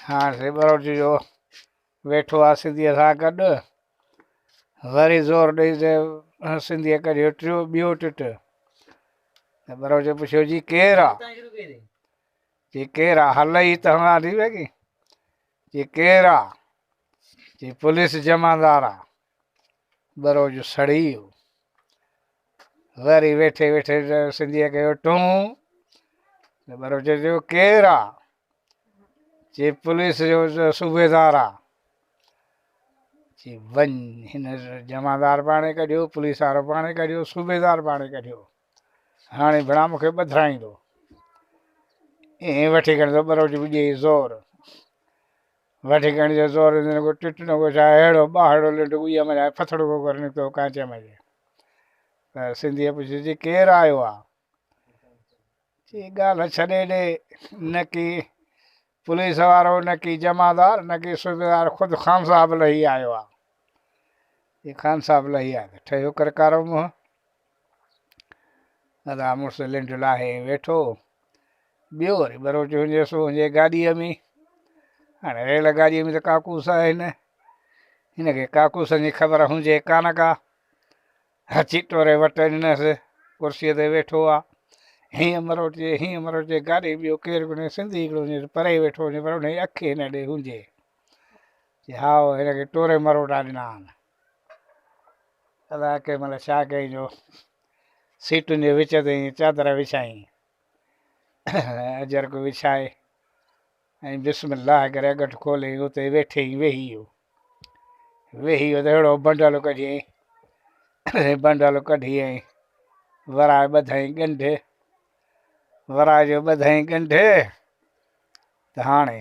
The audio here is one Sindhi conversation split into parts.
هاڻ سي ٻروچ جو ويٺو آ سنڌيء سان گڏ، وري زور ڏئي ته سنڌيء ڪڍيو ٽيو ٻيو ٽٽ. ته ٻروچ پڇيو جي ڪير آ؟ جي ڪير آ؟ هل ئي ته هنگان ٿي ويگي. جي ڪير آ؟ جي پوليس جمعدار آ. ٻرو جو سڙي ويو. وري ويٺي ويٺي سنڌيء ڪيو ٽون ته ٻرو چيو جو ڪير آ؟ چي پوليس جو صوبيدار آ. چي وڃ هن جمعدار پاڻي ڪڍيو، پوليس وارو پاڻي ڪڍيو، صوبيدار پاڻي ڪڍيو. هاڻي بنا مون کي ٻڌرائيندو. ائين وٺي کڻي ته ٻرو جو ڏي زور. وٺي کڻي جو زور ويندو نه ڪو ٽٽ نه ڪو ڇا اهڙو ٻاهڙو لنڊ ڳويء مان لاهي ڦٿڙو ڪو ڪري نڪتو ڪانچيء مان جي ته سنڌيء پڇيس جي ڪير آيو آ چي ڳالهه ڇڏي ڏي نه ڪي پوليس وارو نه ڪي جمعدار نه ڪي صوبيدار خود خان صاحب لهي آيو آ جي خان صاحب لهي آيو ته ٺهيو ڪرڪارو منهن ادا مڙس لنڊ لاهي ويٺو ٻيو وري ٻروچ هجي سو هجي گاڏيء ۾ هاڻي ريل گاڏيء ۾ ته ڪاڪوس آهن هن کي ڪاڪوسن جي خبر هجي ڪانه ڪا هچي ٽوري وٽ ڏنس ڪرسيء تي ويٺو آ هيئن مروچي هيئن مروچي گاڏي ٻيو ڪير ڪونهي سنڌي هڪڙو هجي پري ويٺو هجي پر هن جي اک هن ڏي هجي چي هاء هن کي ٽوري مروٽا ڏنا آهن ادا ڪي ملي ڇا ڪيائين جو سيٽن جي وچ تي ائين چادر وڇائين اجرڪ وڇائي ۽ بسم الله ڪري اڳٺ کولي اتي ويٺي ويهي ويو ويهي ويو ته اهڙو بنڊل ڪڍيائين بنڊل ڪڍي ۽ ورائي ٻڌائين ڳنڍ ورائي جو ٻڌائين ڳنڍ ته هاڻي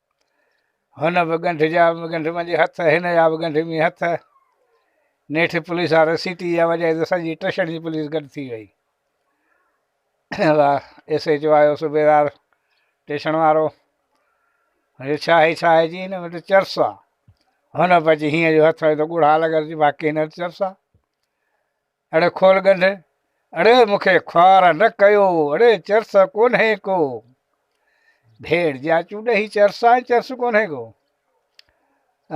هن به ڳنڍ جا به ڳنڍ منجهي هٿ، هن جا به ڳنڍ مي هٿ. نيٺ پوليس وارن سيٽي جا وڄائي ته سڄي ٽشڻ جي پوليس گڏ ٿي وئي. ايس ايچ او آيو صوبيدار ٽيشڻ وارو هي ڇا هي ڇا هي جي هن وٽ چرس آ هن پچي هيئن جو هٿ هيو ته ڳوڙها لڳل جي باقي هن چرس آ اڙي کول ڳنڍ، اڙي مون کي خوار نه ڪيو، اڙي چرس ڪونهي ڪو، ڀيڙ جي آچون ڏهي چرس آهي چرس ڪونهي ڪو.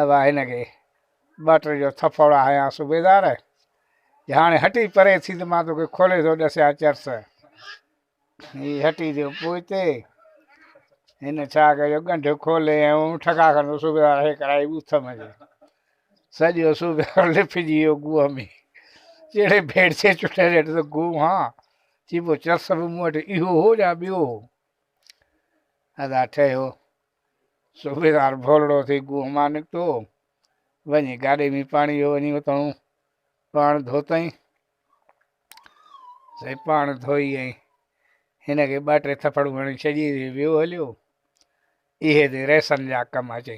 ابا هن کي ٻه ٽي جو ٿڦوڙا هنيا صوبيدار، جي هاڻي هٽي پري ٿي ته مان توکي کولي ٿو ڏسيان چرس. هي هٽي ٿيو پوئتي، هن ڇا ڪيو ڳنڍ کولي ۽ اون ٺڪا کن صوبيدار هي ڪرائي ٻوٿ ۾ جي سڄو صوبيدار لپجي ويو گوهه ۾ جهڙي ڀيڙسي چٽي ريٽ ته گوهه هان چي پو چرس به مون وٽ اهو هو يا ٻيو هو ادا ٺهيو صوبيدار ڀولڙو ٿي گوهه مان نڪتو وڃي گاڏي ۾ پاڻي ويو وڃي اتئون پاڻ ڌوتئين سائين پاڻ ڌوئي ۽ هن کي ٻه ٽي ٿڦڙون هڻي ڇڏي ويو هليو اهي تي ريسن جا ڪم اچي